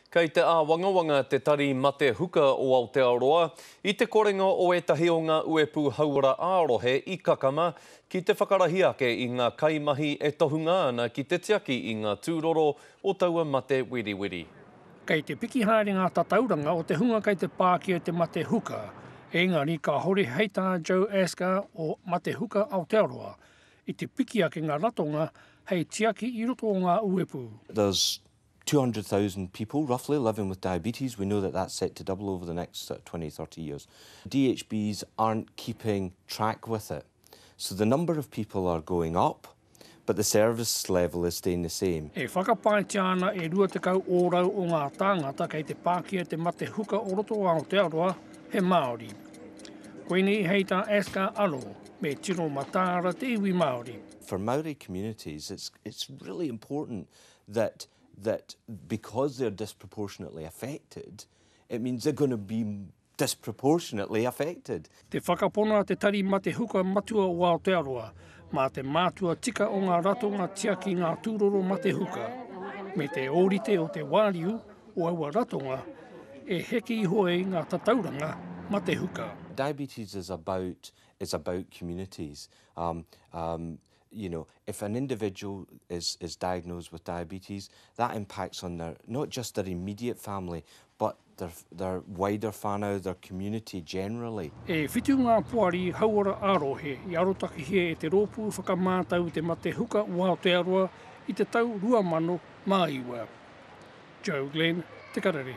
Kei te āwangawanga te Tari Mate Huka o Aotearoa i te korenga o ētahi o ngā uepū hauora ā-rohe i kakama ki te whakarahi ake i ngā kaimahi e tohunga ana ki te tiaki i ngā tūroro o taua mate wiriwiri. Kei te piki haere ngā tatauranga o te hunga kei te pā ki te Mate Huka, ēngari ka hori hei tā Joe Asker o Mate Huka Aotearoa, i te piki ake ngā ratonga hei tiaki i roto o ngā uepū. Does 200,000 people roughly living with diabetes, we know that that's set to double over the next 20, 30 years. DHBs aren't keeping track with it. So the number of people are going up, but the service level is staying the same. E whakapaetia ana e 20 ōrau o ngā tāngata kei te pākia te mate huka o roto o Aotearoa he Māori. Koinei hei tā Asker anō, me tino mataara te iwi Māori. For Māori communities, it's, it's really important that that because they're disproportionately affected, it means they're going to be disproportionately affected. Te whakapono a te Tari Mate Huka Matua o Aotearoa mā te mātua tika o ngā ratonga tiaki ngā tūroro mate huka, me te ōrite o te wāriu o aua ratonga e heke iho ai ngā tatauranga mate huka. Diabetes is about, is about communities. Um, um, you know, if an individual is, is diagnosed with diabetes, that impacts on their, not just their immediate family, but their, their wider whānau, their community generally. E whitu ngā poari hauora ā-rohe i arotakihia e te Rōpū Whakamātau i te Mate Huka o Aotearoa i te tau 2009. Joe Glenn, Te Karere.